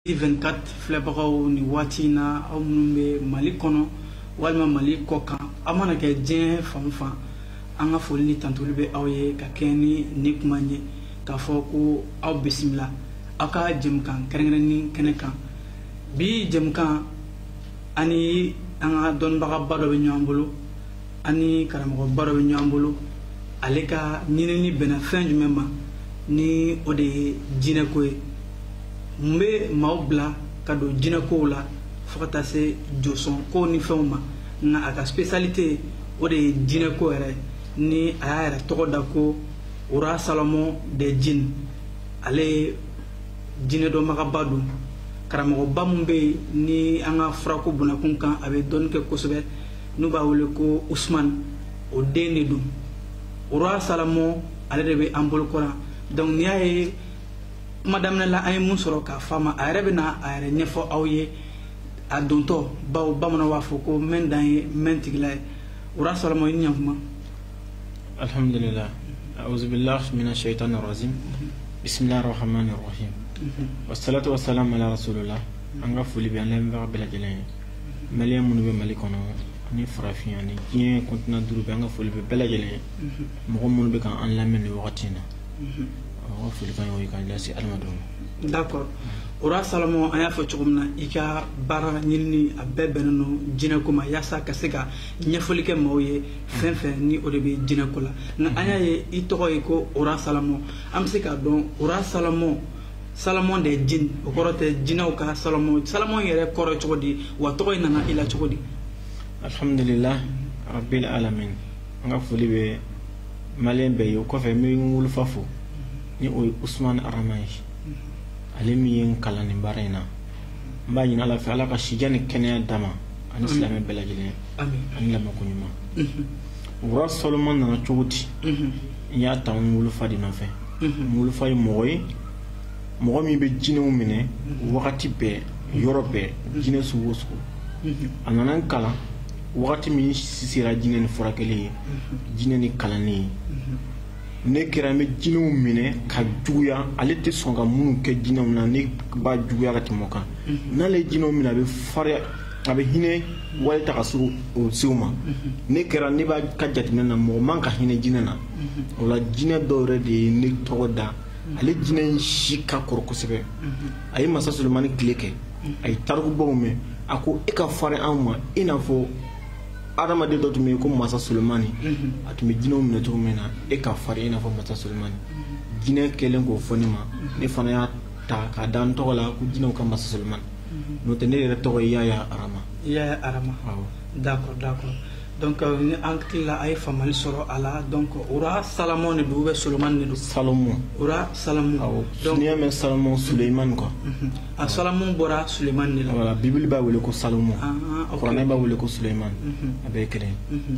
24 filɛbagaw nin waati in na aw minnu bɛ mali kɔnɔ walima mali kɔ kan aw mana kɛ diɲɛ fan o fan an ka foli ni tandoli bɛ aw ye ka kɛɲɛ ni nin kuma ye k'a fɔ ko aw bisimila aw ka jɛmukan kɛrɛnkɛrɛnnen kɛnɛ kan bi jɛmukan ani an ka dɔnnibagaba dɔ bɛ ɲɔgɔn bolo ani karamɔgɔba dɔ bɛ ɲɔgɔn bolo ale ka ɲinini bɛnna fɛn jumɛn ma ni o de ye jinɛko ye mun bɛ maaw bila ka don jinɛkow la fo ka taa se josɔnko ni fɛnw ma nka a ka spécialité o de ye jinɛko yɛrɛ ni a y'a yɛrɛ tɔgɔ da ko roi salomon des djinns ale ye jinɛ dɔnbagaba don karamɔgɔba min bɛ yen ni an ka furako bunakun kan a bɛ dɔnni kɛ kosɛbɛ n'u b'a wele ko usman o den de don roi salomon ale de bɛ an bolokɔrɔ donc n'i y'a ye kuma daminɛ la an ye mun sɔrɔ k'a fa ma a yɛrɛ bɛna a yɛrɛ ɲɛfɔ aw ye a dontɔ bawo bamananw b'a fɔ ko mɛn dan ye mɛn tigila ye roi salomon i ɲakuma alhamdulillah auzubillah mina shaitan rajim bismillah rahman rahim wasalatu wasalam ala rasulillah an ka foli bɛ an lamɛnbaga bɛɛ lajɛlen ye maliyɛn minnu bɛ mali kɔnɔ ani farafinna ni diɲɛ continent duuru bɛɛ an ka foli bɛ bɛɛ lajɛlen ye mɔgɔ minnu bɛ ka an lamɛn nin wagati in na Ɔ foli ka ka lase adamadenw d'accord roi salomon an y'a fɔ cogo min na i ka baara ɲinini a bɛɛ bɛnnen don jinɛko ma yaasa ka se ka ɲɛfɔli kɛ maaw ye fɛn fɛn ni o de bɛ jinɛko la nka an y'a ye i tɔgɔ ye ko roi salomon an bɛ se k'a dɔn roi salomon salomon des djinns o kɔrɔ tɛ jinɛw ka salomon salomon yɛrɛ kɔrɔ cogo di wa tɔgɔ in nana i la cogo di alhamdulillah rabbil alamin an ka foli bɛ mali bɛɛ ye o kɔfɛ n bɛ n wolofa fo ni o ye usumani arama ye ale min ye n kalan nin baara in na n b'a ɲini ala fɛ ala ka si jan ni kɛnɛya d'a ma ani silamɛ bɛɛ lajɛlen ani lamɛnko ɲuman roi salomon nana cogo di n y'a ta n wolofa de nɔfɛ n wolofa ye mɔgɔ ye mɔgɔ min bɛ jinɛw minɛ wagati bɛɛ yɔrɔ bɛɛ jinɛ sugu o sugu a nana n kalan wagati min sera jinɛ ni furakɛli ye jinɛ ni kalanni ye ne kɛra n bɛ jinɛw minɛ ka juguya ale tɛ sɔn ka minnu kɛ jinɛw na ne b'a juguya ka tɛmɛ o kan n'ale ye jinɛw minɛ a bɛ fariya a bɛ hinɛ wale ta ka se o sew ma ne kɛra ne b'a ka jateminɛ na mɔgɔ man ka hinɛ jinɛ na o la jinɛ dɔ yɛrɛ de ye ne tɔgɔ da ale jinɛ in si ka kɔrɔ kosɛbɛ a ye masa solomani tile kɛ a ye tarikubaw mɛn a ko e ka farin anw ma i n'a fɔ adamaden dɔ tun bɛ yen ko masa solomani a tun bɛ jinɛw minɛ cogo min na e ka farin i n'a fɔ masa solomani jinɛ kɛlen k'o fɔ ne ma ne fana y'a ta k'a da n tɔgɔ la ko jinɛw ka masa solomani n'o tɛ ne yɛrɛ tɔgɔ ye yaya arama yaya arama d'accord d'accord donc euh, ni an hakili la a ye faamuyali sɔrɔ a la donc roi salomon de don ou bien solomani de don salomon roi salomon donc n'i y'a mɛn salomon sulemani quoi mhm. a salomon bɔra sulemani de la voilà bibili b'a wele ko salomon ah, ah, kuranɛ b'a wele ko sulemani mhm. a bɛɛ kelen mhm.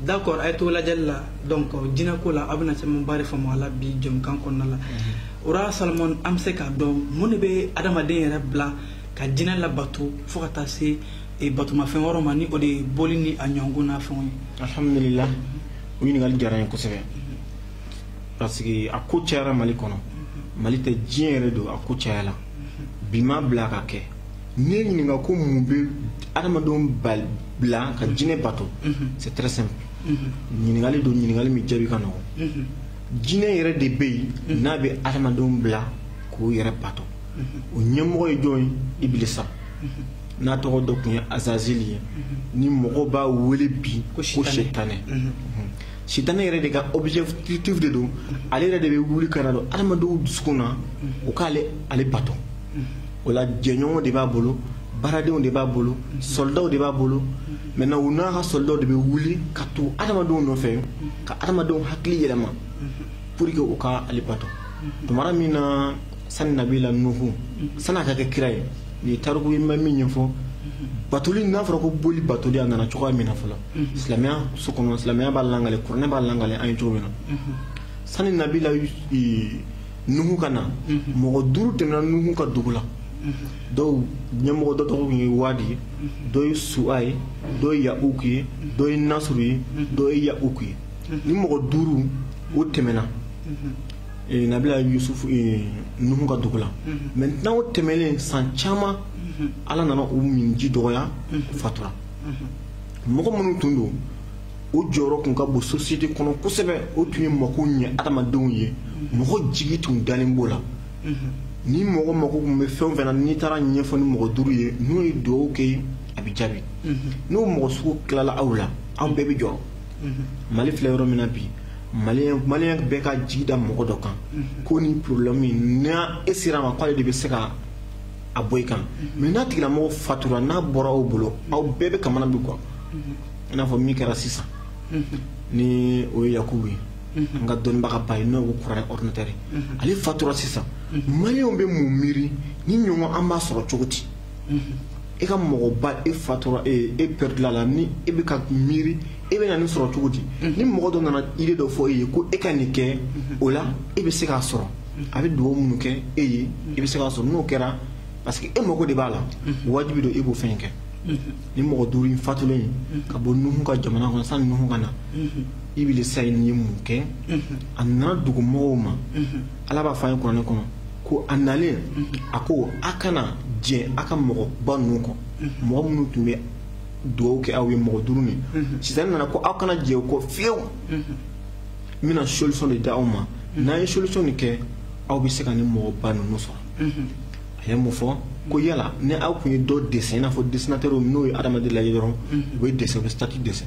d'accord a ye to lajɛli la donc jinɛko la a bɛna camanba de faamu a la bi jɛmukan kɔnɔna la mhm. roi salomon an bɛ se k'a dɔn mun de bɛ adamaden yɛrɛ bila ka jinɛ labato fo ka taa se eh, batomafɛn wɛrɛw ma ni o de ye boli ni a ɲɔgɔnna fɛnw ye alhamdulila o ɲininkali diyara n ye kosɛbɛ parce que a ko cayara mali kɔnɔ mali tɛ diɲɛ yɛrɛ don a ko cayala bi ma bila ka kɛ n'i ye ɲininka ko mun bɛ adamadenw bila ka jinɛ bato c'est très simple ɲininkali don ɲininkali min jaabi ka nɔgɔn jinɛ yɛrɛ de bɛ yen n'a bɛ adamadenw bila k'o yɛrɛ bato o ɲɛmɔgɔ ye jɔn ye ibilisa n'a tɔgɔ dɔ tun ye azazili ye ni mɔgɔ b'a wele bi ko sitanɛ sitanɛ yɛrɛ de ka objectif de don ale yɛrɛ de bɛ wuli ka na don adamadenw dusukun na o k'ale ale bato o la jɛɲɔgɔnw de b'a bolo baaradenw de b'a bolo sɔlidaw de b'a bolo maintenant u n'a ka sɔlidaw de bɛ wuli ka tugu adamadenw nɔfɛ ka adamadenw hakili yɛlɛma pour que u ka ale bato tuma min na sani nabila nuhu sani a ka kɛ kira ye u ye tariku ma min ɲɛfɔ batoli n'a fɔra ko boli batoli a nana cogoya min na fɔlɔ silamɛya so kɔnɔ silamɛya b'a lakali kuranɛ b'a lakali an ye cogo min na sani nabila nuhu ka na mɔgɔ duuru tɛmɛna nuhu ka dugu la dɔw ɲɛmɔgɔ dɔ tɔgɔ ye waadi ye dɔ ye suwa ye dɔ ye yauku ye dɔ ye nasuru ye dɔ ye yauku ye nin mɔgɔ duuru o tɛmɛna eh, nabila yusufu eh, nuhu ka dugu la maintenant o tɛmɛlen san caman ala nana u minji dɔgɔya fatura mɔgɔ minnu tun don o jɔyɔrɔ tun ka bon sosiyete kɔnɔ kosɛbɛ o tun ye mako ɲɛ adamadenw ye mɔgɔ jigi tun dalen b'o la ni mɔgɔ mako tun bɛ fɛn o fɛn na n'i taara a ɲɛfɔ nin mɔgɔ duuru ye n'u ye dugawu kɛ a bɛ jaabi n'o mɔgɔ sugu tilala aw la aw bɛɛ bɛ jɔrɔ mali filɛ yɔrɔ min na bi maliyɛn bɛɛ ka jigi da mɔgɔ dɔ kan ko ni porobilɛmu n'e sera a ma k'ale de bɛ se ka a bɔ i kan mɛ n'a tigilamɔgɔ fatura n'a bɔra aw bolo aw bɛɛ bɛ kamana bɛ gan i n'a fɔ min kɛra sisan ni o ye yakubu ye an ka dɔnnibagaba ye n'o ko kuranɛ ɔrdinatɛri ale fatura sisan maliyɛnw bɛ mun miiri ni ɲɔgɔn an b'a sɔrɔ cogo di e ka mɔgɔba e fatura e e pɛrɛdila la ni e bɛ ka miiri e bɛ na nin sɔrɔ cogo di ni mɔgɔ dɔ nana idée dɔ fɔ e ye ko e ka nin kɛ o la e bɛ se k'a sɔrɔ a bɛ dugawu minnu kɛ e ye e bɛ se k'a sɔrɔ n'o kɛra parce que e mago de b'a la wajibi don e b'o fɛn kɛ ni mɔgɔ duuru in fatulen ye ka bɔ nuhu ka jamana kɔnɔ sani nuhu ka na ibilisa ye nin ye mun kɛ a nana dugumɔgɔw ma ala b'a fɔ an ye kuranɛ kɔnɔ ko a nalen a ko a kana jɛ a ka mɔgɔba ninnu kɔ mɔgɔ minnu tun bɛ dugawu kɛ aw ye mɔgɔ duuru nin sisan nana ko aw kana jɛ o kɔ fiyewu n bɛna solution de di aw ma n'aw ye solution nin kɛ aw bɛ se ka nin mɔgɔba ninnu sɔrɔ a ye mun fɔ ko yala ni aw tun ye dɔ dɛsɛ i n'a fɔ dessinateur n'o ye adamaden lajɛ dɔrɔn u bɛ dɛsɛ u bɛ statue dɛsɛ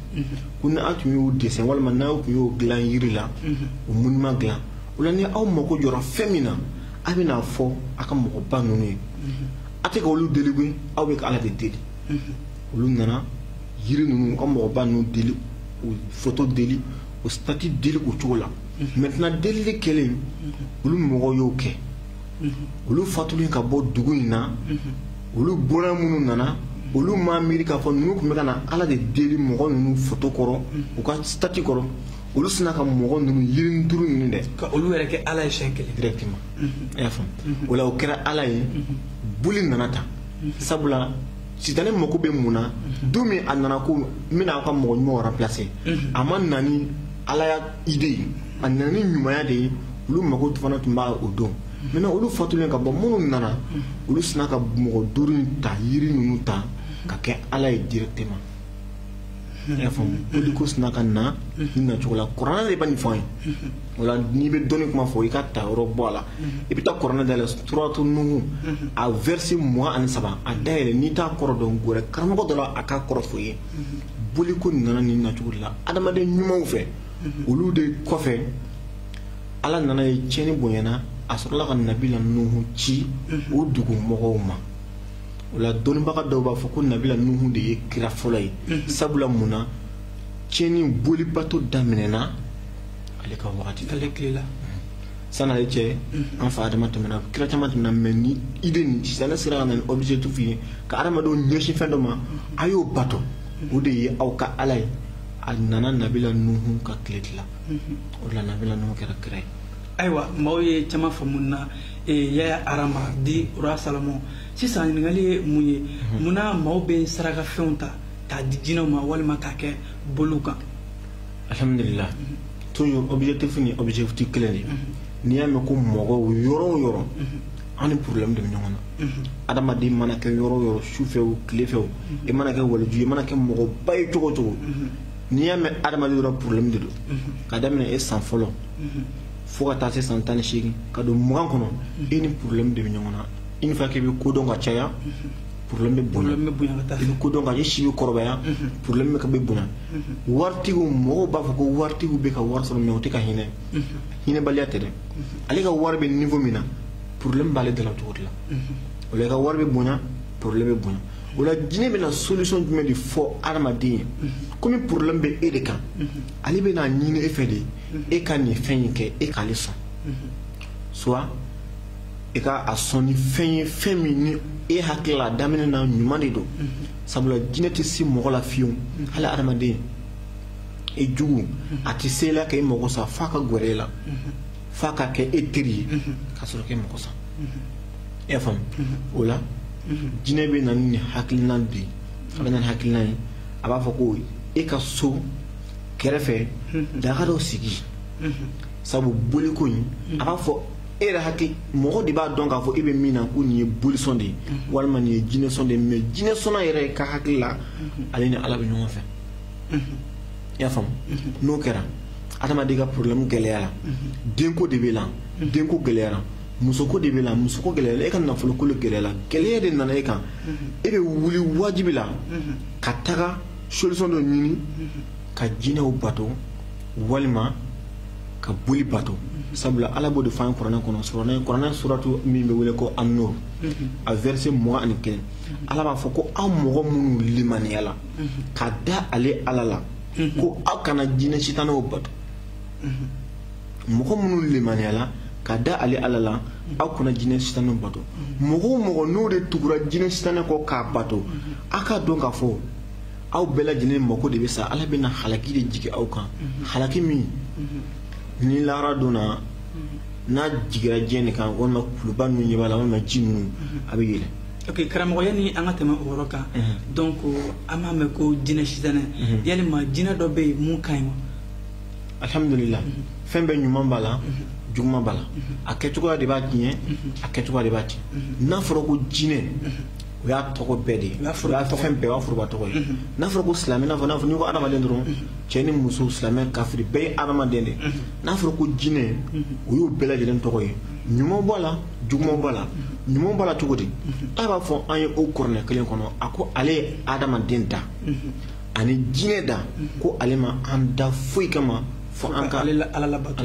ko ni aw tun y'u dɛsɛ walima n'aw tun y'o dilan yiri la o monument dilan O la ni aw mago jɔra fɛn min na aw bɛn'a fɔ aw ka mɔgɔ ba ninnu ye a tɛ ka olu deli koyi aw bɛ ka Ala de deli olu nana jiri ninnu ka mɔgɔ ba ninnu deli u foto deli u statue deli o cogo la maintenant delili kɛlen olu mɔgɔw y'o kɛ olu fatulen ka bɔ dugu in na olu bɔra minnu nana olu m'a miiri k'a fɔ ninnu tun bɛ ka na Ala de deli mɔgɔ ninnu foto kɔrɔ u ka statue kɔrɔ olu sina ka mɔgɔ ninnu yirinin duuru ninnu dɛ ka olu yɛrɛ kɛ ala ye siɲɛ kelen directement i y'a faamu o la o kɛra ala ye boli nana tan sabula sitanɛ mako bɛ mun na don min a nana ko n bɛna aw ka mɔgɔ ɲumanw remplacer a ma na ni alaya idée ye a nana ni ɲumanya de ye olu mako fana tun b'a o don maintenant olu fatulen ka bɔ minnu nana olu sina ka mɔgɔ duuru in ta yiri ninnu ta ka kɛ ala ye directement y'a faamu boliko sina ka na nin nacogo la kuranɛ de bɛ nin fɔ an ye o la n'i bɛ dɔnni kuma fɔ i ka ta yɔrɔ bɔ a la i bɛ taa kuranɛ dayɛlɛ suratu nuhu a verset mugan ani saba a dayɛlɛ n'i t'a kɔrɔ dɔn gɛrɛ karamɔgɔ dɔ la a k'a kɔrɔ fɔ i ye boliko nana nin nacogo de la adamaden ɲumanw fɛ olu de kɔfɛ ala nan'a ye tiɲɛni bonyana a sɔrɔla ka nabila nuhu ci o dugumɔgɔw ma o la dɔnnibaga dɔw b'a fɔ ko nabila nuhu de ye kira fɔlɔ ye mhm. sabula mun na tiɲɛni bolibato daminɛna ale ka wagati ale tile la sani ale cɛ mhm. an fa adama tɛmɛna kira caman tɛmɛna mais ni idée nin sitanɛ sera ka na ni objectif ye ka adamadenw ɲɛsin fɛn dɔ ma mhm. a y'o bato o de ye aw ka ala ye a nana nabila nuhu ka tile de la o de la nabila nuhu kɛra kira ye ayiwa maaw ye caman faamu na ee yaya arama dit roi salomon sisan ɲininkali ye mun ye mhm. munna maaw bɛ sarakafɛnw ta k'a di jinɛw ma walima k'a kɛ boliw kan alhamdulilah mhm. toujours objectif ni objectif kelen de mhm. n'i y'a mɛn ko mɔgɔw yɔrɔ o yɔrɔ an ni problème de bɛ ɲɔgɔn na adamaden mana kɛ yɔrɔ o yɔrɔ su fɛ o tile fɛ o i mana kɛ waliju i mana kɛ mɔgɔba ye cogo o cogo n'i y'a mɛn adamaden dɔrɔn problème de don ka daminɛ e san fɔlɔ fo ka taa se san tan ni seegin ka don mugan kɔnɔ e ni problème de bɛ ɲɔgɔn na une fois que i bɛ kodɔn ka caya problème bɛ bonya i bɛ kodɔn ka i si bɛ kɔrɔbaya problème bɛ ka bɛ bonya waritigiw mɔgɔw b'a fɔ ko waritigiw bɛ ka wari sɔrɔ mais u tɛ ka hinɛ hinɛbaliya tɛ dɛ ale ka wari bɛ niveau min na problème b'ale dala cogo de la o la i ka wari bɛ bonya problème bɛ bonya o la jinɛ bɛna solution jumɛn de fɔ adamaden ye komi problème bɛ e de kan ale bɛna ɲini e fɛ de e ka nin fɛn in kɛ e k'ale sɔn soit i ka a sɔn ni fɛn ye fɛn min ni e hakili la a daminɛ na ɲuman de don sabula jinɛ tɛ se mɔgɔ la fiyewu hali adamaden i jugu a tɛ se la ka i mago sa f'a ka gɛrɛ e la f'a ka kɛ e teri ye ka sɔrɔ k'e mago sa e y'a faamu o la jinɛ bɛ na ni nin hakilina de ye a bɛ na ni hakilina ye a b'a fɔ ko e ka so kɛrɛfɛ daga dɔ sigi sabu boliko in a b'a fɔ e yɛrɛ hakili mɔgɔ de b'a dɔn k'a fɔ e bɛ min na ko nin ye bolisɔn de ye walima nin ye jinɛsɔn de ye mais jinɛsɔnna yɛrɛ ka hakili la ale ni ala bɛ ɲɔgɔn fɛ i y'a faamu n'o kɛra adamaden ka problème gɛlɛyara denko de b'e la denko gɛlɛyara musoko de b'e la musoko gɛlɛyara e ka nafoloko de gɛlɛyara gɛlɛya de nana e kan e bɛ wuli wajibi la ka taga solution dɔ ɲini ka jinɛw bato walima ka boli bato sabula ala b'o de fɔ an ye kuranɛ kɔnɔ surana kuranɛ suratu min bɛ wele ko an-nur a verset mugan ani kelen ala b'a fɔ ko aw mɔgɔ minnu limaniyala ka da ale ala la ko aw kana jinɛ sitanɛw bato mɔgɔ minnu limaniyala ka da ale ala la aw kana jinɛ sitanɛw bato mɔgɔ o mɔgɔ n'o de tugura jinɛ sitanɛ kɔ k'a bato aw k'a dɔn k'a fɔ aw bɛɛ lajɛlen mako de bɛ sa ala bɛna halaki de jigin aw kan halaki min ni lahara don na n'a jigira diɲɛ de kan walima kuluba ninnu ɲɛ b'a la walima ji ninnu a bɛ yɛlɛ ok karamɔgɔ yanni an ka tɛmɛ o yɔrɔ kan donc an b'a mɛn ko jinɛ sitanɛ yalima jinɛ dɔ bɛ yen min ka ɲi wa alhamdulila fɛn bɛɛ ɲuman b'a la juguman b'a la a kɛcogoya de b'a tiɲɛ a kɛcogoya de b'a tiɲɛ n'a fɔra ko jinɛ o y'a tɔgɔ bɛɛ de ye o y'a fɛn bɛɛ o y'a foroba tɔgɔ ye n'a fɔra ko silamɛ n'a fɔ n'a fɔ n'i ko adamaden dɔrɔn cɛ ni muso silamɛ kafiri bɛɛ ye adamaden de ye n'a fɔra ko jinɛ o y'o bɛɛ lajɛlen tɔgɔ ye ɲuman b'a la juguman b'a la ɲuman b'a la cogo di ala b'a fɔ an ye o kuranɛ kelen kɔnɔ a ko ale ye adamaden da ani jinɛ da ko ale ma an da foyi kama fo an ka ala labato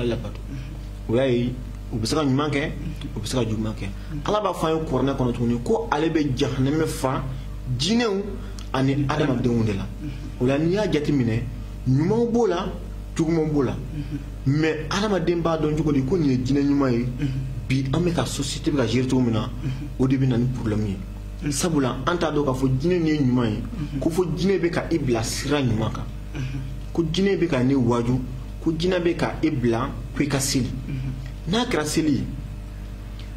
o y'a ye u bɛ se ka ɲuman kɛ u bɛ se ka juguman kɛ ala b'a fɔ an ye kuranɛ kɔnɔ tuguni ko ale bɛ jahanɛmɛ fa jinɛw ani adamadenw de la o la n'i y'a jateminɛ ɲumanw b'o la jugumanw b'o la mais adamaden b'a dɔn cogo di ko nin ye jinɛ ɲuman ye bi an bɛ ka société bɛ ka gérer cogo min na o de bɛ na ni problème ye sabula an t'a dɔn k'a fɔ jinɛ nin ye ɲuman ye mhm. ko fo jinɛ bɛ ka i bila sira ɲuman kan mhm. ko jinɛ bɛ ka ne waaju ko jinɛ bɛ ka i bila ko i ka seli mhm. n'a kɛra seli ye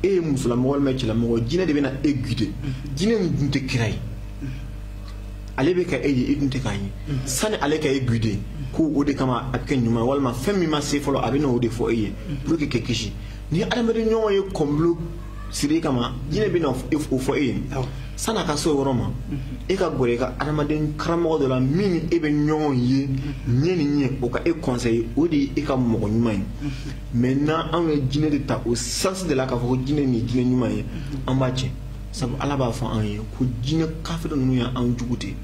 e ye musolamɔgɔ walima cɛlamɔgɔ jinɛ de bɛna e guider jinɛ nin dun tɛ kira ye ale bɛ ka e ye e dun tɛ k'a ye sani ale ka e guider ko o de kama a bɛ kɛ ɲuman ye walima fɛn min ma se fɔlɔ a bɛ n'o de fɔ e ye pour que k'i kisi n'i adamaden ɲɔgɔn ye complot siri kama jinɛ bɛna o fɔ e ye san'a ka se o yɔrɔ ma e ka gɛrɛ i ka adamaden karamɔgɔ dɔ la min ni e bɛ ɲɔgɔn ye ɲɛ ni ɲɛ o ka e conseiller o de ye e ka mɔgɔ ɲuman ye maintenant anw ye jinɛ de ta o sens de la k'a fɔ ko jinɛ nin ye jinɛ ɲuman ye an b'a tiɲɛ sabu ala b'a fɔ an ye ko jinɛ kafiri ninnu ye an jugu de ye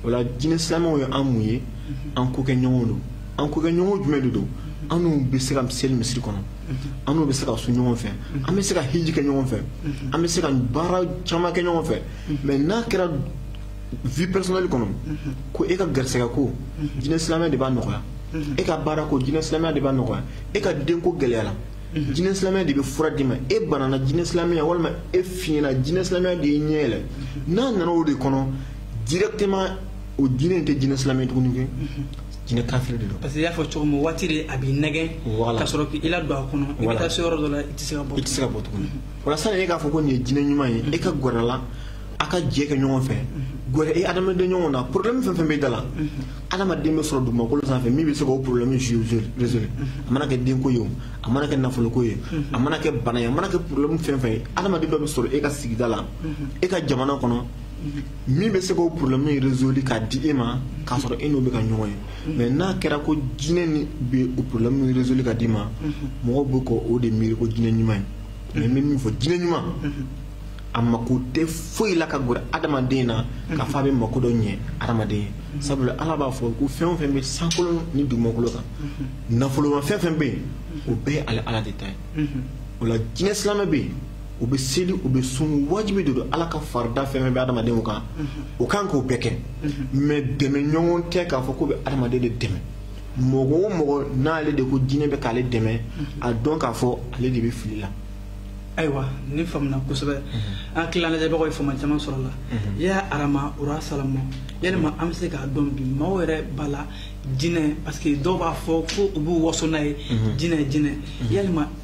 o la jinɛ silamɛw ye an mun ye an kokɛɲɔgɔn don an kokɛɲɔgɔn jumɛn de don an n'u bɛ se ka seli misiri kɔnɔ an n'u bɛ se ka sun ɲɔgɔn fɛ an bɛ se ka hiji kɛ ɲɔgɔn fɛ an bɛ se ka baara caman kɛ ɲɔgɔn fɛ mais n'a kɛra vie personnelle kɔnɔ ko e ka garisɛgɛ ko jinɛ silamɛya de b'a nɔgɔya e ka baara ko jinɛ silamɛya de b'a nɔgɔya e ka denko gɛlɛyara jinɛ silamɛya de bɛ fura d'i ma e banana jinɛ silamɛya walima e fiɲɛna jinɛ silamɛya de y'e ɲɛ yɛlɛ n'a nana o de kɔnɔ directement o jinɛ in tɛ jinɛ silamɛ tuguni kɛ jinɛ kafiri de don parce que i y'a fɔ cogo min waati de a b'i nɛgɛn ka sɔrɔ k'i la don a kɔnɔ i bɛ taa se yɔrɔ dɔ la i tɛ se ka bɔ i tɛ se ka bɔ tuguni o la sani e k'a fɔ ko nin ye jinɛ ɲuman ye e ka gɛrɛ la a ka jɛ kɛ ɲɔgɔn fɛ gɛrɛ e adamaden ɲɔgɔn na problème fɛn fɛn bɛ da la adamaden bɛ sɔrɔ dugumakolo sanfɛ min bɛ se k'o problème résoudre a mana kɛ denko ye o a mana kɛ nafoloko ye a mana kɛ bana ye a mana kɛ problème fɛn fɛn ye adamaden dɔ bɛ sɔrɔ e ka sigida la e ka jamana kɔnɔ min bɛ se k'o problème in résoudre k'a di e ma k'a sɔrɔ e n'o bɛ ka ɲɔgɔn ye mais n'a kɛra ko jinɛ nin bɛ o problème in résoudre k'a d'i ma mɔgɔw bɛ k'o o de miiri ko jinɛ ɲuman ye mais n bɛ min fɔ jinɛ ɲuman a mako tɛ foyi la ka gɛrɛ adamaden na k'a fɔ a bɛ mako dɔ ɲɛ adamaden ye sabula ala b'a fɔ ko fɛn o fɛn bɛ sankolo ni dugumakolo kan nafoloma fɛn fɛn bɛ yen o bɛɛ ye ale ala de ta ye o la jinɛ silamɛ bɛ yen u bɛ seli u bɛ sun wajibi de don ala ka farida fɛn fɛn bɛ adamadenw kan o ka kan k'o bɛɛ kɛ mais dɛmɛ ɲɔgɔn tɛ k'a fɔ k'o bɛ adamaden de dɛmɛ mɔgɔ o mɔgɔ n'ale de ko jinɛ bɛ k'ale dɛmɛ a dɔn k'a fɔ ale de bɛ fili la ayiwa nin faamuna kosɛbɛ an tila lajɛbagaw ye faamu caman sɔrɔ la ya arama ura salamu yalima an bɛ se k'a dɔn bi maaw yɛrɛ b'a la jinɛ parce que dɔw b'a fɔ ko u b'u waso n'a ye jinɛ jinɛ yalima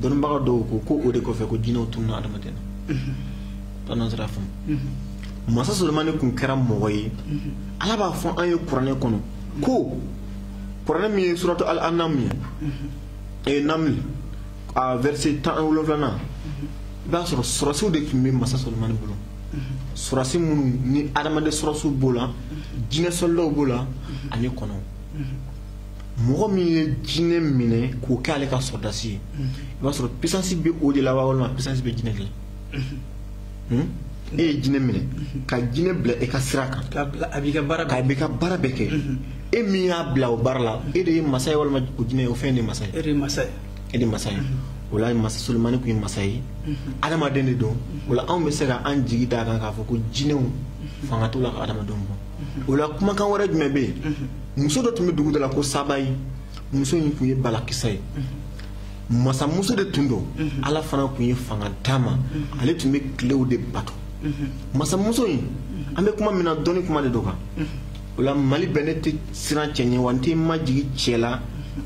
dɔnnibaga dɔw ko ko o de kɔfɛ ko jinɛw tununa adamaden na pannan sira faamu masa solomani tun kɛra mɔgɔ ye ala b'a fɔ an ye kuranɛ kɔnɔ ko kuranɛ min ye suratu al anam ye ee naml a verset tan ni wolonfilanan i b'a sɔrɔ sɔrɔdasiw de tun bɛ masa solomani bolo sɔrɔdasi minnu ni adamaden sɔrɔdasiw b'o la jinɛ sɔlidaw b'o la ani kɔnɔw mɔgɔ min ye jinɛ minɛ k'o kɛ ale ka sɔrɔdasi ye mhm. i b'a sɔrɔ puissance bɛ o de la wa walima puissance bɛ jinɛ de la mhm. hmm? e ye jinɛ minɛ mhm. ka jinɛ bila e ka sira kan a b'i ka baara bɛɛ kɛ e min y'a bila o baara la e de ye masa ye walima o jinɛ ye o fɛn de ye masa ye e de ye masa ye e de ye masa ye o la masa solomani tun ye masa ye adamaden de don o la anw bɛ se ka an jigi d'a kan k'a fɔ ko jinɛw fanga t'u la ka adamadenw bɔ o la kumakan wɛrɛ jumɛn bɛ yen muso dɔ tun bɛ dugu dɔ la ko sabayi muso in tun ye balakisa ye masamuso de tun don ala fana tun ye fanga d'a ma ale tun bɛ tilew de bato masamuso in an bɛ kuma min na dɔnni kuma de don kan o la mali bɛɛ ne tɛ siran cɛ ɲɛ wa n tɛ majigin cɛ la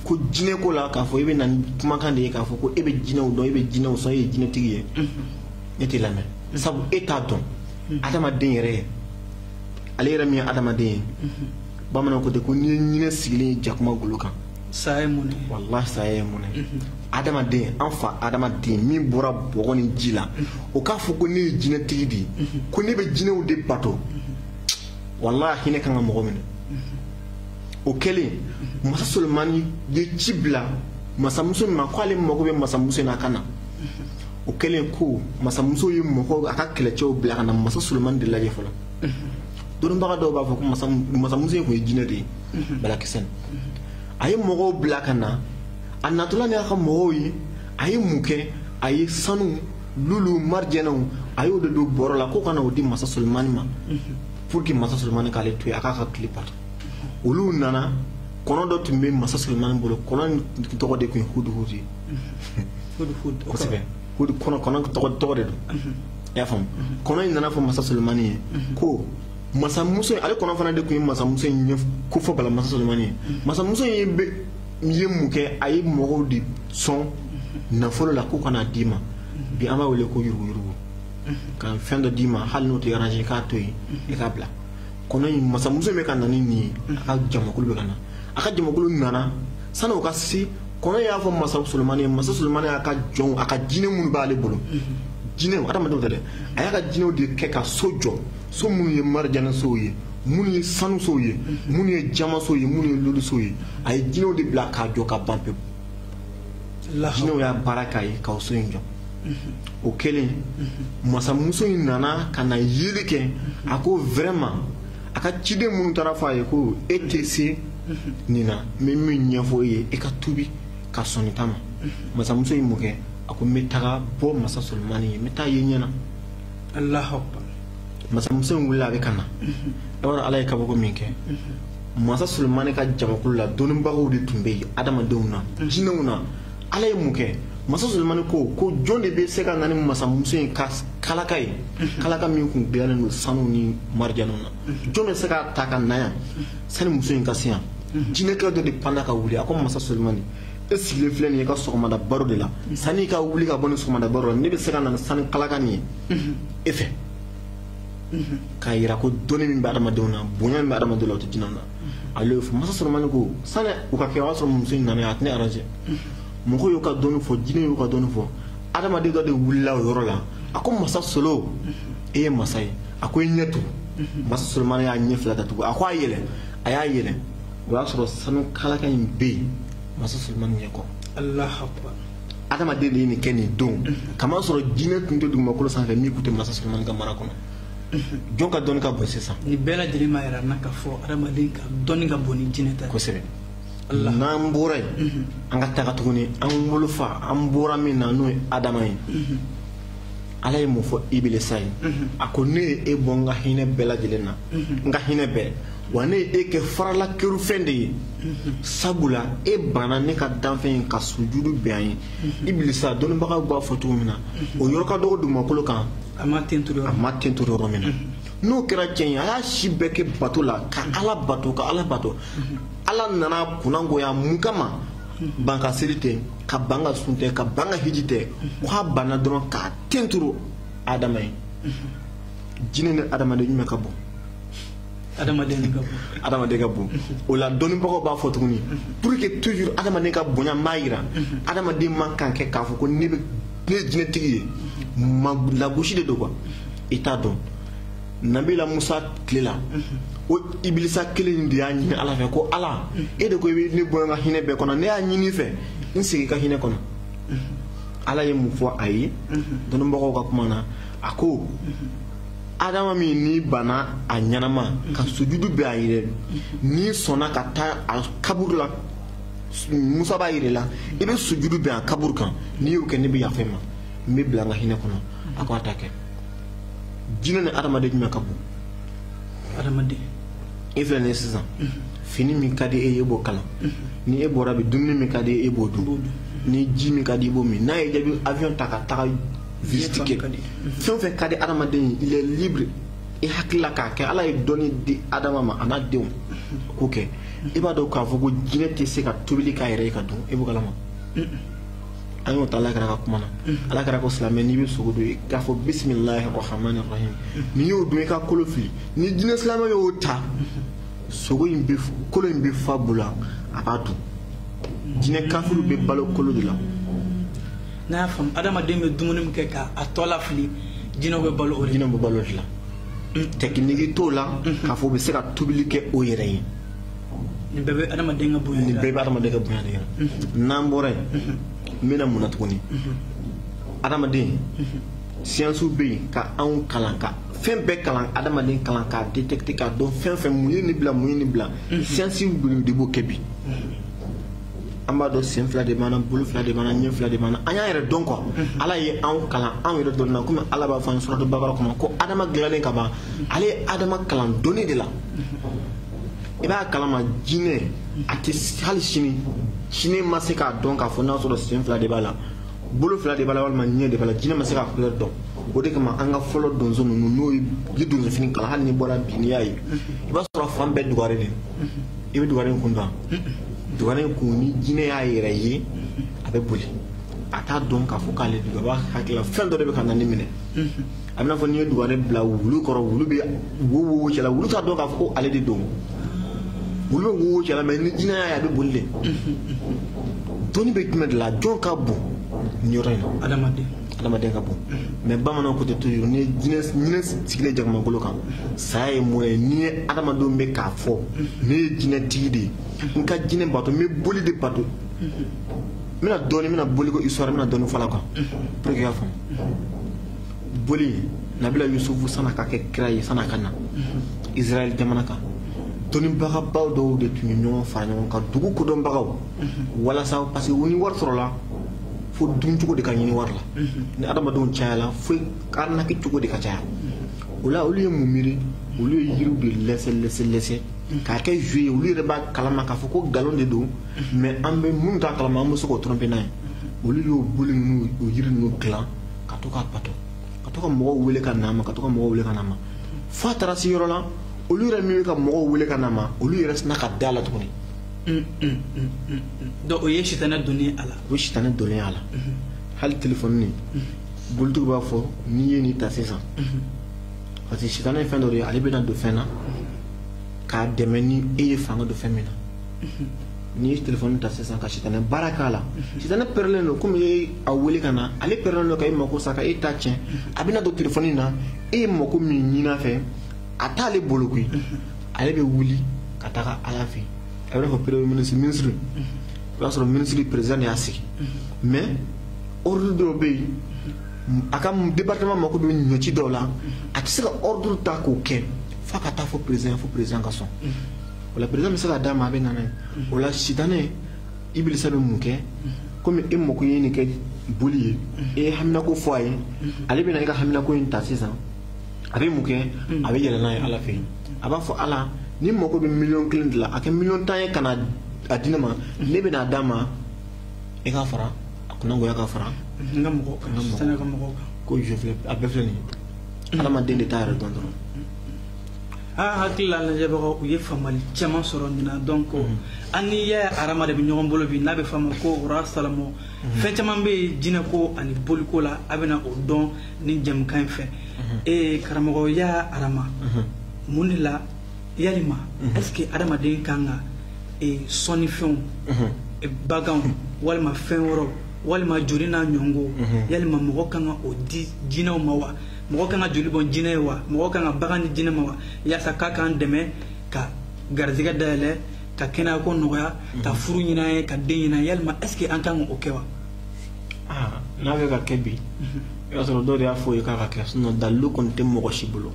ko jinɛko la k'a fɔ e bɛ na ni kumakan de ye k'a fɔ ko e bɛ jinɛw dɔn e bɛ jinɛw sɔn e ye jinɛtigi ye ne t'e lamɛn sabu e t'a dɔn adamaden yɛrɛ ye ale yɛrɛ min ye adamaden ye bamananw ko ten ko n'i ye ɲinɛ sigilen ye jakuma golo kan saya ye mun ye walahi saya ye mun ye adamaden an fa adama den min bɔra bɔgɔ ni ji la o k'a fɔ ko ne ye jinɛtigi de ye ko ne bɛ jinɛw de bato walahi a hinɛ kan ka mɔgɔ minɛ o kɛlen masa solomani ye ci bila masamuso in ma k'ale mago bɛ masamuso in na a ka na o kɛlen ko masamuso ye mɔgɔw a ka kɛlɛcɛw bila ka na masa solomani de lajɛ fɔlɔ dɔnnibaga dɔw b'a fɔ ko masamuso in tun ye jinɛ de ye balakisɛ a ye mɔgɔw bila ka na a natɔla ni a ka mɔgɔw ye a ye mun kɛ a ye sanu lulu marijɛnɛw a y'o de don bɔrɔ la k'u ka na o di masa solomani ma pour que masa solomani k'ale to yen a k'a ka tile bato olu nana kɔnɔ dɔ tun bɛ masa solomani bolo kɔnɔ tɔgɔ de tun ye huduhudu ye kosɛbɛ kɔnɔ kɔnɔ tɔgɔ tɔgɔ de don mhm. i y'a faamu mhm. kɔnɔ in nana a fɔ masa solomani ye mhm. ko masamuso ale kɔnɔ fana de tun ye masamuso in ko fɔ bala masa solomani ye masamuso in bɛ ye mun kɛ a ye mɔgɔw de sɔn nafolo la k'u ka na d'i ma bi an b'a wele ko yuruguyurugu ka fɛn dɔ d'i ma hali n'o tɛ arrange k'a to yen i k'a bila kɔnɔ in masamuso bɛ ka na ni nin ye a ka jamakulu bɛ ka na a ka jamakulu nana sani o ka se kɔnɔ y'a fɔ masa solomani ye masa solomani y'a ka jɔnw a ka jinɛ minnu b'ale bolo jinɛw adamadenw tɛ dɛ a y'a ka jinɛw de kɛ ka so jɔ so minnu ye marijanɛsow ye minnu ye sanusow ye minnu ye jamasow ye minnu ye lulusow ye a ye jinɛw de bila k'a jɔ ka ban pewu jinɛw y'a baara k'a ye ka so in jɔ o kɛlen masamuso in nana ka na yeli kɛ a ko vraiment a ka ciden minnu taara a fɔ a ye ko e tɛ se nin na n bɛ min ɲɛfɔ e ye e ka tubi ka sɔn nin ta ma masamuso in ye mun kɛ a ko n bɛ taga bɔ masa solomani ye n bɛ taa a ye ɲɛ na masamuso in wulila a bɛ ka na e b'a dɔn ala ye kabako min kɛ masa solomani ka jamakulu la dɔnnibagaw de tun bɛ yen adamadenw na jinɛw na ala ye mun kɛ masa solomani ko ko jɔn de bɛ se ka na ni masamuso in ka kalaka ye kalaka min tun dilannen don sanu ni marijɛnɛw na jɔn bɛ se k'a ta ka na yan sani muso in ka se yan jinɛkɛ dɔ de panna ka wuli a ko masa solomani e sigilen filɛ nin ye i ka sɔgɔmada baro de la sani i ka wuli ka bɔ nin sɔgɔmada baro la ne bɛ se ka na ni sanu kalaka nin ye e fɛ k'a yira ko dɔnni min bɛ adamadenw na bonya min bɛ adamadenw la o tɛ jinɛw na ale y'o fɔ masa solomani ko sani o ka kɛ o y'a sɔrɔ muso in nana a tɛ ne arrange mɔgɔw y'u ka dɔnni fɔ jinɛw y'u ka dɔnni fɔ adamaden dɔ de wulila o yɔrɔ la a ko masa solo e ye masa ye a ko i ɲɛ tugu masa solomani y'a ɲɛ fila datugu a ko a yɛlɛ a y'a yɛlɛ o y'a sɔrɔ sanu kalaka in bɛ yen masa solomani ɲɛ kɔ adamaden de ye nin kɛ nin don k'a masɔrɔ jinɛ tun tɛ dugumakolo sanfɛ min tun tɛ mansa solomani ka mara kɔnɔ jɔn ka dɔnni ka bon sisan nin bɛɛ lajɛlen b'a yira an na k'a fɔ adamaden ka dɔnni ka bon ni jinɛ ta kosɛbɛ n'an bɔra yen mhm. an ka taga tuguni an wolofa an bɔra min na n'o ye adama ye mhm. ala ye mun fɔ ibilisa ye mhm. a ko ne ye e bɔ n ka hinɛ bɛɛ lajɛlen na n ka hinɛ bɛɛ wa ne ye e kɛ farala kɛrunfɛn de ye sabula e banna ne ka danfɛn ye ka sujudu bɛn a ye ibilisa dɔnnibagaw b'a fɔ cogo min na o yɔrɔ ka dɔgɔ dugumakolo kan a ma tenturu yɔrɔ min na n'o kɛra cɛn ye a y'a si bɛɛ kɛ bato la ka ala bato ka ala bato ala nana kunnangoya mun kama ban ka seli tɛ ka ban ka sun tɛ ka ban ka hiji tɛ k'a banna dɔrɔn ka tenturu adama ye jinɛ ni adamaden jumɛn ka bon adamaden ka bon adamaden ka bon o la dɔnnibagaw b'a fɔ tuguni pour que toujours adamaden ka bonya n b'a yira adamaden man kan kɛ k'a fɔ ko ne bɛ ne ye jinɛtigi ye ma lagosi de don quoi i t'a dɔn nabila musa tile la o ibilisa kelen in de y'a ɲini ala fɛ ko ala e de ko i bɛ ne bɔ i ka hinɛ bɛɛ kɔnɔ ne y'a ɲini i fɛ n segin i ka hinɛ kɔnɔ ala ye mun fɔ a ye dɔnnibagaw ka kuma na a ko adama min n'i banna a ɲɛnama ka sujudu bɛn a yɛrɛ n'i sɔnna ka taa a kaburu la musa b'a yira i la i bɛ sujudu bɛn a kaburu kan n'i y'o kɛ ne bɛ yafa i ma n b'i bila n ka hinɛ kɔnɔ a ko a t'a kɛ jinɛ ni adamaden jumɛn ka bon adamaden e filɛ nin ye sisan fini min ka di e ye e b'o kala ni e bɔra bi dumuni min ka di e e b'o dun ni ji min ka di i e b'o min n'a y'i diya i bɛ avion ta ka taga visite kɛ fɛn o fɛn ka di adamaden ye il est libre i hakilila k'a kɛ ala ye dɔnni di adama ma a n'a denw k'o kɛ i b'a dɔn k'a fɔ ko jinɛ tɛ se ka tobili k'a yɛrɛ ye ka dun e b'o kala ma an y'o ta ala kira ka kuma na ala kira ko silamɛ n'i bɛ sogo dun i k'a fɔ bisimilahi rahmani rahim n'i y'o dun i ka kolo fili ni jinɛ silamɛ y'o ta sogo in bɛ kolo in bɛ fa a bolo a b'a dun jinɛ kafiriw bɛ balo kolo de la n'a y'a faamu adamaden bɛ dumuni min kɛ ka a tɔ lafili jinɛw bɛ balo o de la jinɛw bɛ balo o de la tɛkiniki t'u la k'a fɔ u bɛ se ka tobili kɛ u yɛrɛ ye nin bɛɛ bɛ adamaden ka bonya nin bɛɛ bɛ adamaden ka bonya de la n'an bɔra yen an bɛ na mun na tuguni adamaden siyansiw bɛ yen ka anw kalan ka fɛn bɛɛ kalan adamaden kalan k'a détecter k'a dɔn fɛn fɛn mun ye nin bila mun ye nin bila siyansiw de b'o kɛ bi an b'a dɔn sen fila de b'an bolo fila de b'an ɲɛ fila de b'an an y'an yɛrɛ dɔn quoi ala ye anw kalan anw yɛrɛ dɔnni na komi ala b'a fɔ an ye suratu bakara kɔnɔ ko adama dilannen ka ban ale ye adama kalan dɔnni de la i b'a kalama jinɛ a tɛ hali sini sini ma se k'a dɔn k'a fɔ n'a sɔrɔ sen fila de b'a la bolo fila de b'a la walima ɲɛ de b'a la jinɛ ma se k'a kulɛri dɔn o de kama an ka fɔlɔ donso ninnu n'o ye ni donsofini kalan hali n'i bɔra bi n'i y'a ye i b'a sɔrɔ fan bɛɛ dugare de i bɛ dugare kun dɔn dugare in kun ni jinɛ y'a yɛrɛ ye a bɛ boli a t'a dɔn k'a fɔ k'ale don a b'a hakili la fɛn dɔ de bɛ ka na ni minɛ a bɛ n'a fɔ n'i ye dugare bila wulu kɔrɔ wulu bɛ wo wo cɛla wulu t'a dɔn k'a fɔ ko ale de don wulu bɛ wo wo cɛla mais ni jinɛ y'a ye a bɛ boli de dɔnni bɛ jumɛn de la jɔn ka bon nin yɔrɔ in na adamaden adamaden ka bon mais bamananw ko tɛ toujours ni jinɛ jinɛ sigilen jakumakolo kan saya ye mun ye n'i ye adamadenw bɛ k'a fɔ ne ye jinɛtigi de ye n ka jinɛ bato n bɛ boli de bato n bɛna dɔɔni n bɛna boli ko histoire n bɛna dɔɔni fɔ a la quoi pour que i ka faamu boli nabila yusufu san'a ka kɛ kira ye san'a ka na israɛl jamana kan dɔnnibagabaw dɔw de tun ye ɲɔgɔn fara ɲɔgɔn kan dugu kodɔnbagaw walasa parce que u ni wari sɔrɔla f'a duncogo de ka ɲini wari la ni adamadenw cayala fo arnaque cogo de ka caya o la olu ye mun miiri olu ye yiriw de lɛsɛ lɛsɛ lɛsɛ k'a kɛ jo ye olu yɛrɛ b'a kalama k'a fɔ ko nkalon de don mais an bɛ minnu t'a kalama an bɛ se k'o tromper n'a ye olu y'o boli ninnu o yiri ninnu dilan ka to k'a bato ka to ka mɔgɔw wele ka n'a ma ka to ka mɔgɔw wele ka n'a ma fo a taara se yɔrɔ la olu yɛrɛ min bɛ ka mɔgɔw wele ka n'a ma olu yɛrɛ sinna ka da a la tuguni mm, mm, mm, donc o ye sitanɛ donnen a la o ye sitanɛ donnen a la mm-hmm. hali telefɔni nin mm-hmm. bolitigiw b'a fɔ n'i ye nin ta sisan mm-hmm. parce que sitanɛ ye fɛn dɔ de ye ale bɛna don fɛn na k'a dɛmɛ ni e ye fanga don fɛn min na n'i ye telefɔni ta sisan ka sitanɛ baara k'a la sitanɛ pɛrɛlen don komi e y'a wele ka na ale pɛrɛlen don ka e mako sa ka e ta tiɲɛ a bɛna don telefɔni na e ye mako min ɲin'a fɛ a t'ale bolo koyi ale bɛ wuli ka taga ala fɛ a bɛ n'a fɔ premier ministre ministre i b'a sɔrɔ ministre président de y'a sigi mais ordre dɔw bɛ yen a ka département mako bɛ ɲɔci dɔw la a tɛ se ka ordre ta k'o kɛ f'a ka taa fo président fo président ka sɔn o la président bɛ se ka d'a ma a bɛ na n'a ye o la sitanɛ ibilisa bɛ mun kɛ komi e mako ye nin kɛ boli ye e ye haminako fɔ a ye ale bɛna e ka haminako in ta sisan a bɛ mun kɛ a bɛ yɛlɛ n'a ye ala fɛ yen a b'a fɔ ala nin mako bɛ miliyɔn kelen de la a kɛ miliyɔn tan ye ka na a di ne ma ne bɛna a d'a ma e k'a fara a kunnagoya ka fara n ka mɔgɔ kan ka mɔgɔ kan ko a bɛɛ filɛ nin ye adamaden de t'a yɛrɛ dɔn dɔrɔn a hakili la lajɛbagaw u ye faamali caman sɔrɔ nin na donc mhm. an ni yaya arama de bɛ ɲɔgɔn bolo bi n'a bɛ f'a ma ko roi salomon mhm. fɛn caman bɛ yen jinɛko ani boliko la a bɛna o dɔn ni jɛmukan in fɛ mhm. ee karamɔgɔ yaya arama mun de la yalima est ce que adamaden kan ka sɔnnifɛnw baganw walima fɛn wɛrɛw walima joli n'a ɲɔgɔn mhm. yalima mɔgɔ kan ka o di jinɛw ma wa mɔgɔ kan ka joli bɔn jinɛ ye wa mɔgɔ kan ka bagan ni jinɛ ma wa yaasa k'a k'an dɛmɛ ka garizigɛ dayɛlɛ ka kɛnɛya ko nɔgɔya mhm. ka furu ɲini an ye ka den ɲini an ye yalima est ce que an kan ka o kɛ wa ah, n'a bɛ ka kɛ bi mhm. i b'a sɔrɔ dɔw de y'a f'i ye k'a ka kɛ sinon dalilu kɔni tɛ mɔgɔ si bolo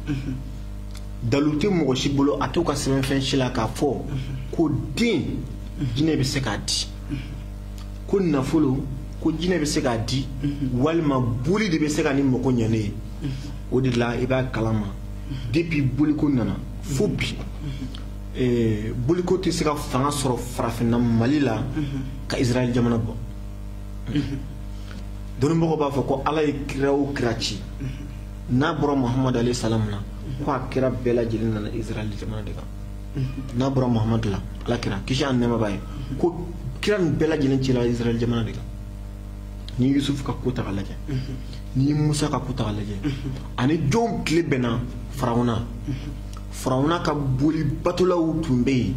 dalilu tɛ mɔgɔ si bolo a t'u ka sɛbɛnfɛn si la k'a fɔ ko den jinɛ bɛ se k'a di ko nafolo ko jinɛ bɛ se k'a di walima boli de bɛ se ka ne mago ɲɛ ne ye o de la i b'a kalama depuis boliko nana fo bi eh, boliko tɛ se ka fanga sɔrɔ farafinna mali la ka israɛl jamana bɔ dɔnnibagaw b'a fɔ ko ala ye kira o kira ci n'a bɔra muhamadu alayhi salam na ko a kira bɛɛ lajɛlen nana israɛl jamana de kan n'a bɔra muhamadu la ala kira kisi ani nɛɛma b'a ye ko kira nin bɛɛ lajɛlen cira israɛl jamana de kan ni yusuf ka ko ta ka lajɛ ni musa ka ko ta ka lajɛ ani jɔnw tile bɛnna farawuna farawuna ka boli batolaw tun bɛ yen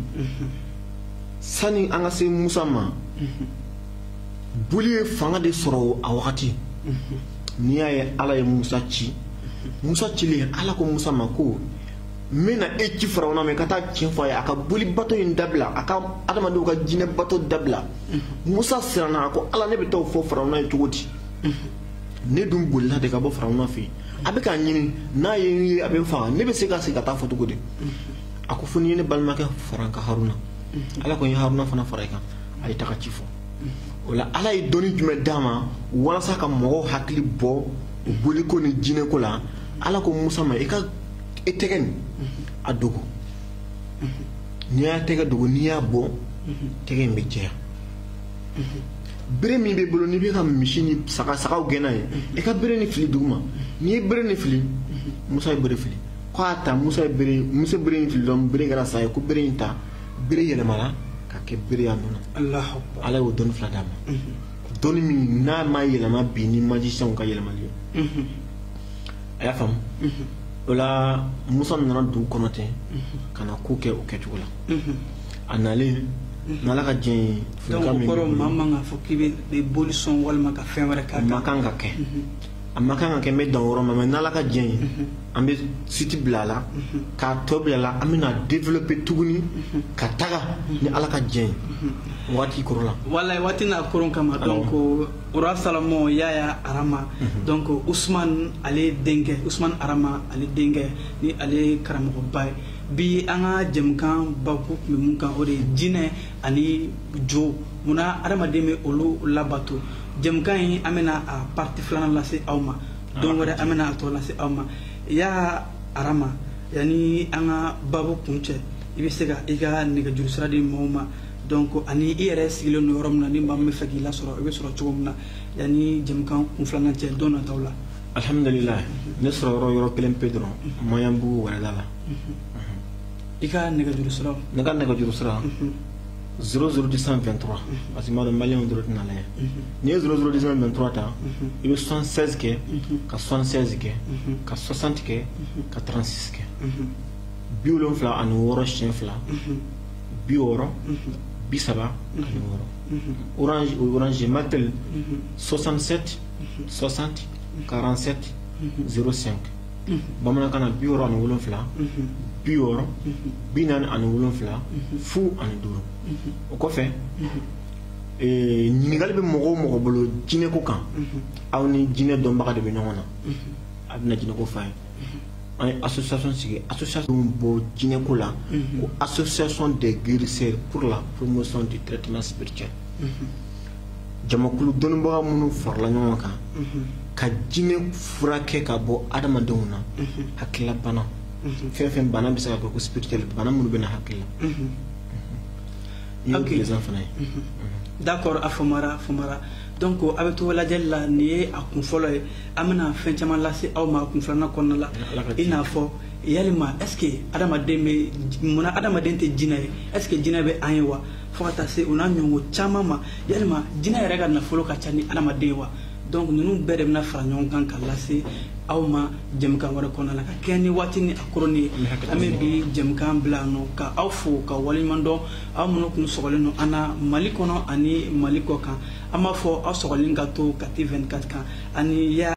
sani an ka se musa ma boli ye fanga de sɔrɔ a wagati n'i y'a ye ala ye musa ci musa cilen ala ko musa ma ko n bɛna e ci farawuna ma i ka taa ci fɔ a ye a ka boli bato in dabila a ka adamadenw ka jinɛ bato dabila musa siranna a ko ala ne bɛ taa o fɔ farawuna ye cogo di ne dun bolila de ka bɔ farawuna fɛ yen a bɛ k'a ɲini n'a ye n ye a bɛ n faga ne bɛ se ka segin ka taa fɔ cogo di a ko fo n'i ye ne balimakɛ fara n kan haruna ala ko n ye haruna fana fara i kan a ye taga ci fɔ o la ala ye dɔnni jumɛn d'a ma walasa ka mɔgɔw hakili bɔ boliko ni jinɛko la ala ko musa ma i ka e tɛgɛ nin a dogo n'i y'a tɛgɛ dogo n'i y'a bɔ tɛgɛ in bɛ jɛya bere min b'i bolo n'i bɛ ka misi ni saga sagaw gɛn n'a ye i ka bere nin fili duguma n'i ye bere nin fili musa ye bere fili ko a ta musa ye bere musa bere in fili dɔrɔn bere kɛra sa ye ko bere in ta bere yɛlɛmana ka kɛ bere y'a nɔ na ala y'o dɔnni fila d'a ma dɔnni min n'a ma yɛlɛma bi ni magicienw ka yɛlɛmali ye a y'a faamu o la musa nana dugu kɔnɔ ten ka na ko kɛ o kɛcogo la a nalen n'ala ka jɛn ye fɛnkan min kɔrɔ maa man kan fɔ k'i bɛ boli sɔn walima ka fɛn wɛrɛ k'a kan a man kan ka kɛ a man kan ka kɛ n bɛ dan yɔrɔ ma mɛ n'ala ka jɛn ye an bɛ suite bila a la k'a tɔ bila a la an bɛna développer tuguni ka taga ni ala ka jɛn ye waati koronna walayi waati n'a koron kama donc ora salamo yaya arama mhm. donc usman ale denkɛ usman arama ale denkɛ ni ale karamɔgɔba ye bi an ka jɛmukan bakun tun bɛ mun kan o de ye jinɛ ani jo munna adamaden bɛ olu labato jɛmukan in an bɛna a parti filanan lase aw ma ah, don wɛrɛ an bɛna a tɔ lase aw ma ya arama yanni an ka babu kuncɛ i bɛ se ka i ka nɛgɛjuru sira di mɔgɔw ma donc ani i yɛrɛ sigilen don yɔrɔ min na ni maa min bɛ fɛ k'i lasɔrɔ i bɛ sɔrɔ cogo min na yanni jɛmukan kun filanan cɛ don nataw la alhamdulillah ne sɔrɔ yɔrɔ yɔrɔ kelen pe dɔrɔn maɲanbugu wɛrɛda la i ka nɛgɛjuru siraw ne ka nɛgɛjuru sira 00223 parce que n b'a dɔn maliyɛnw dɔrɔn tɛn'a lajɛ n'i ye 00223 ta i bɛ 76 kɛ ka 76 kɛ ka 60 kɛ ka 36 kɛ bi wolonfila ani wɔɔrɔ siɲɛ fila bi wɔɔrɔ bi saba ani wɔɔrɔ orange o orange malitel 67 60 47 05 bamanankan na bi wɔɔrɔ ani wolonfila bi wɔɔrɔ bi naani ani wolonfila fu ani duuru o kɔfɛ eh, ɲininkali bɛ mɔgɔ o mɔgɔ bolo jinɛko kan aw ni jinɛ dɔnbaga de bɛ ɲɔgɔn na a bɛna jinɛko f'a ye an ye association sigi association min bɔ jinɛko la ko association des guérisseurs pour la promotion du traitement spirituel jamakulu dɔnnibaga minnu farala ɲɔgɔn kan ka jinɛ furakɛ ka bɔ adamadenw na hakilila bana fɛn fɛn bana bɛ se ka kɛ ko spirituel bana minnu bɛ na hakili la n y'o président fana ye d'accord a faamura a faamura donc a bɛ to lajɛli la nin ye a kun fɔlɔ ye an bɛna fɛn caman lase aw ma kun filanan kɔnɔna la i n'a fɔ yalima est ce que adamaden bɛ munna adamaden tɛ jinɛ ye est ce que jinɛ bɛ an ye wa fo ka taa se o n'a ɲɔgɔn caman ma yalima jinɛ yɛrɛ ka nafolo ka ca ni adamaden ye wa donc ninnu bɛɛ de bɛna fara ɲɔgɔn kan ka lase aw ma jɛmukan wɛrɛ kɔnɔna la ka kɛɲɛ ni waati ni a koroni ye an bɛ bi jɛmukan bila nɔ ka aw fo ka waleɲuman dɔn aw minnu kun sɔgɔlen don an na mali kɔnɔ ani mali kɔ kan an b'a fɔ aw sɔgɔlen ka to kati 24 kan ani